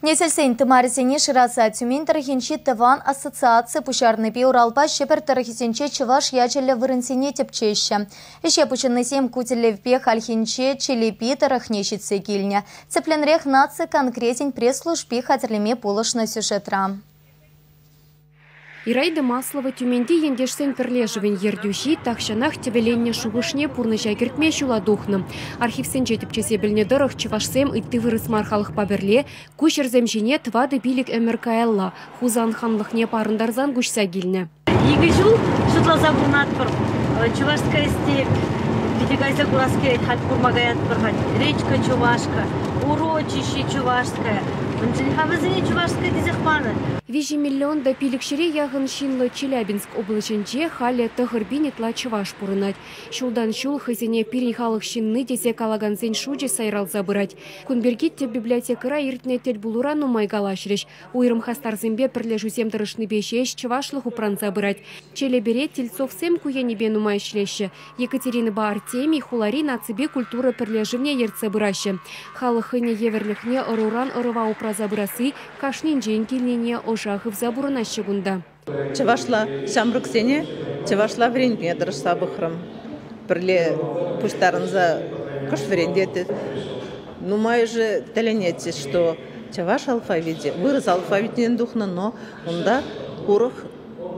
Несӗлсен тымарӗсене шыраса Тюмень тӑрӑхӗнчи тӑван ассоциаци пуҫарнипе Уралпа Ҫӗпӗр тӑрӑхӗсенче чӑваш ячӗллӗ вырӑнсене тӗпчеҫҫӗ. Ӗҫе пуҫӑннисем ку тӗллевпе хальхинче Челепи тӑрӑхне ҫитсе килнӗ. Тӗплӗнрех наци конкретен пресс-служби хатӗрлеме пулӑшнӑ сюжетра. Ираида Маслова Тюменьти ентешсен пӗрлешӗвӗн ертӳҫи тахҫанах тӗвӗленнӗ шухӑшне пурнӑҫа кӗртме ҫула тухнӑ. Архивсенче тӗпчесе пӗлнӗ тӑрӑх, чӑвашсем ытти вырӑс мар халӑхпа пӗрле ку ҫӗрсем ҫине тӑватӑ пилӗк ӗмӗр каялла Хусан ханлӑхне парӑнтарсан куҫса килнӗ. Икӗ ҫул шутласа пурӑнатпӑр. Чувашская степь питӗ кайса курас килет, хать курма каятпӑр-ха. Речка Чувашка, урочище Чувашское. Унчченхи вӗсене Чувашское тесех панӑ. Виҫӗ миллион та пилӗк ҫӗре яхӑн ҫынлӑ Челябинск облаҫӗнче халӗ тӑхӑр пин ытла чӑваш пурӑнать. Ҫултан-ҫул хӑйсене пирӗн халӑх ҫынни тесе калакансен шучӗ сайралса пырать. Кун пирки тӗп библиотекӑра иртнӗ тӗлпулура нумай калаҫрӗҫ. Уйрӑм хастарсемпе пӗрлешӳсем тӑрӑшнипе ҫеҫ чӑвашлӑх упранса пырать. Челепере Тельцовсем ку енӗпе нумай ӗҫлеҫҫӗ, Екатеринӑпа Артемий хулари наципе культура пӗрлешӗвне ертсе пыраҫҫӗ. Халӑх хӑйне евӗрлӗхне ӑруран ӑрӑва упраса пырасси кашнинчен килнине ӑша хывса пурӑнаҫҫӗ кунта. Чӑвашла ҫамрӑксене чӑвашла вӗрентме тӑрӑшса пӑхрӑм. Пӗрле пуҫтарӑнса кӑшт вӗрентеттӗм. Нумайӑшӗ тӗлӗнетчӗҫ, что чӑваш алфавичӗ вырӑс алфавитӗнчен тухнӑ, но унта урӑх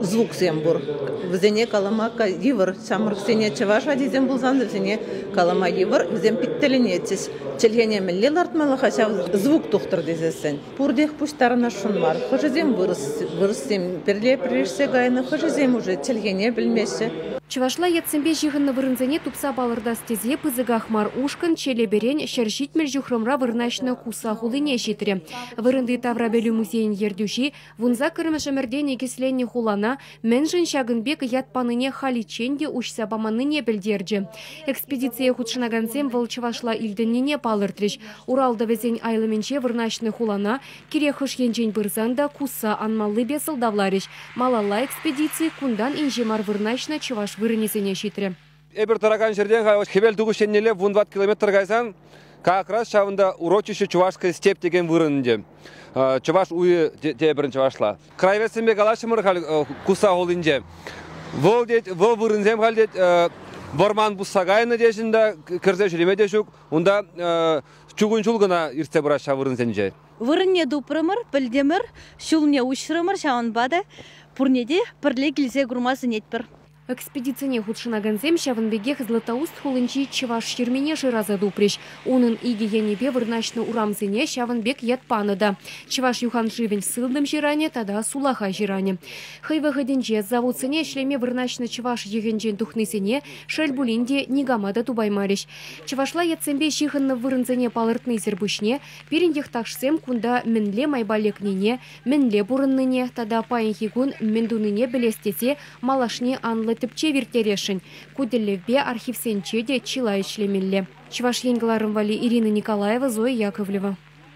звуксем пур. Вӗсене калама йывӑр. Ҫамрӑксене чӑваш ачисем пулсан вӗсене калама йывӑр. Вӗсем пит тӗлӗнетчӗҫ. Чӗлхене мӗнле лартмалла-ха ҫав звук тухтӑр тесессӗн? Пуртех пуҫтарӑнасшӑн мар. Хӑшӗсем вырӑс, вырӑссем пӗрле пӗрешсе кайнӑ, хӑшӗсем уже чӗлхене пӗлмеҫҫӗ. Чӑвашла ятсемпе ҫыхӑннӑ вырӑнсене тупса палӑртас тесе пысӑках мар ушкӑн Челепӗрен ҫӗр ҫитмӗл ҫухрӑмра вырнаҫнӑ Куса хулине ҫитрӗ. Вырӑнти таврапӗлӳ музейӗн ертӳҫи Вунсаккӑрмӗш ӗмӗрте никӗсленнӗ хулана мӗншӗн ҫакӑн пек ят панине халиччен те уҫса паманнине пӗлтерчӗ. Экспедицие хутшӑнакансем вӑл чӑвашла илтӗннине палӑртрӗҫ. Урал тӑвӗсен айлӑмӗнче вырнаҫнӑ хулана кирек хӑш енчен пырсан та кусса анмаллипе сӑлтавларӗҫ. Малалла экспедици кунтан инҫе мар вырнаҫнӑ чӑваш вырӑнӗсене ҫитрӗ. Эпир тӑракан ҫӗрте-ха Хӗвел тухӑҫ еннелле вун ват километр кайсан как раз ҫавӑнта урочище Чувашская степь текен вырӑн ӗнтӗ. Чӑваш уйӗ тепӗрин чӑвашла. Крайвесемпе калаҫрӑмӑр халь Куса хулинче. Вӑл тет, вӑл вырӑнсем халь тет вӑрман пусса кайнӑ теҫӗн та кӗрсе ҫӳреме те ҫук. Унта чугун ҫул кӑна иртсе пырать ҫав вырӑнсенче. Вырӑнне тупрӑмӑр, пӗлтӗмӗр, ҫулне уҫрӑмӑр, ҫавӑнпа та пурне те пӗрле килсе курма сӗнетпӗр. Экспедицине хутшӑнакансем ҫавӑн пекех Златоуст хулинчи чӑваш ҫырмине шыраса тупрӗҫ. Унӑн икӗ енӗпе вырнаҫнӑ урамсене ҫавӑн пек ят панӑ та, Чӑваш юханшывӗн сылтӑм ҫыранӗ тата сулахай ҫыранӗ. Хӑй вӑхӑтӗнче заводсене ӗҫлеме вырнаҫнӑ чӑваш йӑхӗнчен тухнисене, шел пулин те, никама та тупаймарӗҫ. Чӑвашла ятсемпе ҫыхӑннӑ вырӑнсене палӑртнисӗр пуҫне пирӗн йӑхташсем кунта мӗнле майпа лекнине, мӗнле пурӑннине тата паянхи кун мӗн тунине пӗлес тесе Малашне анлӑ тӗпчев ирттересшӗн. Ку тӗллевпе архивсенче те чылай ӗҫлемелле. Чӑваш Ен кӑларӑм валли Ирина Николаева, Зоя Яковлева.